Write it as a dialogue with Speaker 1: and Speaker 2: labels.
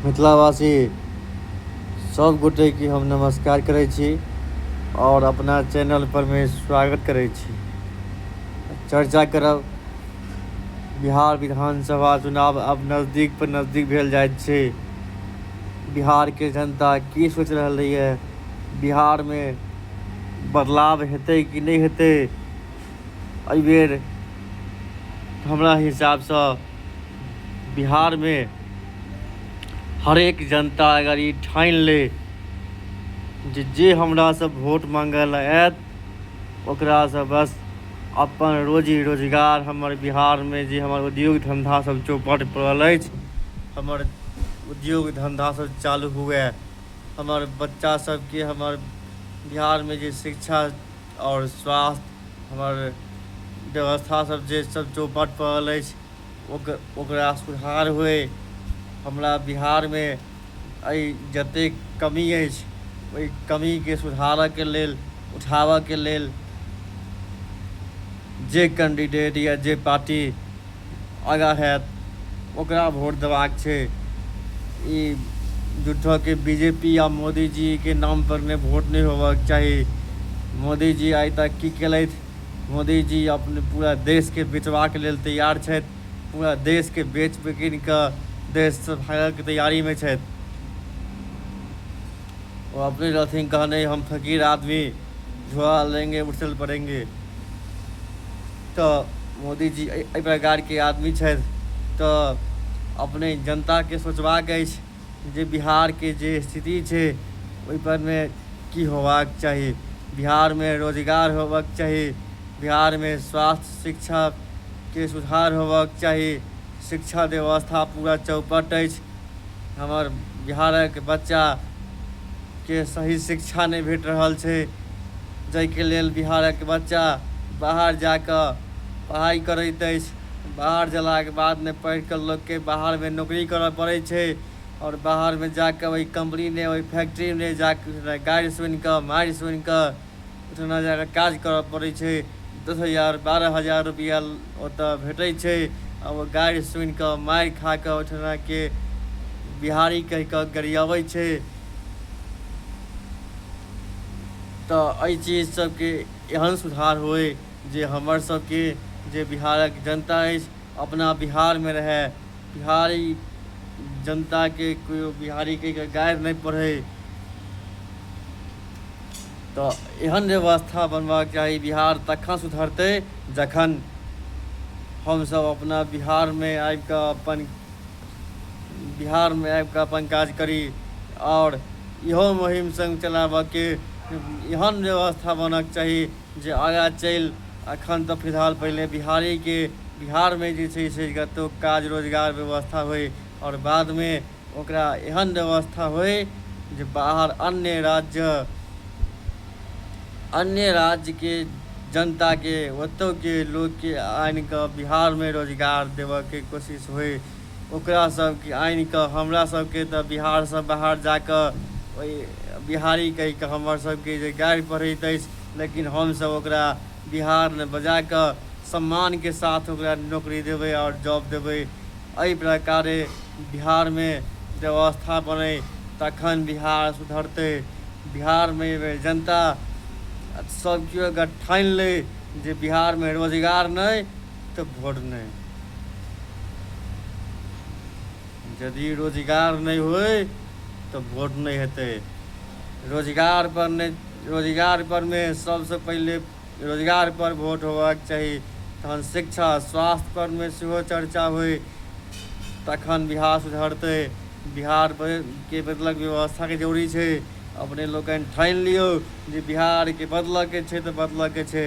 Speaker 1: मिथिलावासी सब गोटे के हम नमस्कार करे छी और अपना चैनल पर में स्वागत करे छी चर्चा करब बिहार विधानसभा चुनाव अब नजदीक पर नजदीक भेल जाइत छै बिहार के जनता की सोच रहले ये बिहार में बदलाव हेतै कि नहि हेतै एहिबेर हमरा हिसाबसँ बिहारमे हरेक जनता अगर ई ठानि ले जे जे हमरासँ वोट मांगय लए आयत ओकरासँ बस अपन रोजी रोजगार हमर बिहारमे जे हमर उद्योग धंधा सब चौपट पड़ल अछि हमर उद्योग धंधा सब चालू हुए हमर बच्चा सबके हमर बिहारमे जे शिक्षा आओर स्वास्थ्य हमर व्यवस्था सब जे सब चौपट पड़ल अछि ओकर ओकरा सुधार होइ हमरा बिहारमे एहि जतेक कमी अछि ओहि कमीके सुधारऽके लेल उठाबऽके लेल जे कैंडिडेट या जे पार्टी आगाँ हैत ओकरा वोट देबाक छै ई झूठोके बी जे पी आ मोदीजीके नामपर नहि वोट नहि होबक चाही मोदीजी आइ तक की केलथि मोदीजी अपने पूरा देशके बेचबाक लेल तैयार छथि पूरा देशके बेच बिकिन कऽ देशसँ भागयके तैयारीमे छथि वो अपने रहते गाने हम फकीर आदमी झोला लेंगे उठल पड़ेंगे तो मोदी जी एहि प्रकार के आदमी छे तो अपने जनता के सोचवा के जे बिहार के जे स्थिति छे ओहि पर में की होवाक चाहिए बिहार में रोजगार होवाक चाहिए बिहार में स्वास्थ्य शिक्षा के सुधार होवाक चाहिए शिक्षा व्यवस्था पूरा चौपट अछि हमर बिहारक बच्चाके सही शिक्षा नहि भेट रहल छै जाहिके लेल बिहारक बच्चा बाहर जा कऽ पढ़ाइ करैत अछि बाहर जयलाके बादमे पढ़ि कऽ लोककेँ बाहरमे नौकरी करय पड़ै छै आओर बाहरमे जा कऽ ओहि कम्पनीमे ओहि फैक्ट्रीमे जा कऽ गारि सुनि कऽ मारि सुनि कऽ ओहिठिना जा कऽ काज करय पड़ैत छै दस हजार बारह हजार रुपैआ ओतय भेटैत छै आ ओ गारि सुनि कऽ मारि खा कऽ ओहिठिनाके बिहारी कहि कऽ गरियबैत छै तऽ एहि चीज सभके एहन सुधार होय जे हमरसभके जे बिहारक जनता अछि अपना बिहारमे रहए बिहारी जनता के कोई बिहारी के गायर नहीं पढ़े तो एहन व्यवस्था बनबाक चाही बिहार तखन सुधरते जखन हम सब अपना बिहार में आबि के अपन बिहार में आबि के अपन काज करी और इहो मुहिम संग चलाबऽ के एहन व्यवस्था बनक चाही जे आगाँ चलि एखन तऽ फिलहाल पहिले बिहारीके बिहारमे जे छै से कतहु काज रोजगार व्यवस्था होइ आओर बादमे ओकरा एहन व्यवस्था होइ जे बाहर अन्य राज्य अन्य राज्यके जनताके ओतहुके लोकके आनि कऽ बिहारमे रोजगार देबयके कोशिश होइ ओकरा सबके आनिकऽ हमरा सबके तऽ बिहारसँ बाहर जाकऽ ओइ बिहारी कहिकऽ हमर सबके जे गारि पढ़ैत अछि लेकिन हमसब ओकरा बिहारमे बजाकऽ सम्मानके साथ ओकरा नौकरी देबै आओर जॉब देबै अइ प्रकारे बिहारमे व्यवस्था बनै तखन बिहार सुधरतै बिहारमे अइ बेर जनता सब केओ अगर ठानि लै जे बिहारमे रोजगार नहि तऽ भोर नहि यदि रोजगार नहि होय तऽ भोट नहि हेतै रोजगार पर नहि रोजगार परमे सभसँ पहिले रोजगार पर भोट होबाक चाही तहन शिक्षा स्वास्थ्य परमे सेहो चर्चा होय तखन बिहार सुधरतै बिहारके बदलक व्यवस्थाके जरूरी छै अपने लोकनि ठानि लियौ जे बिहारके बदलयके छै तऽ बदलयके छै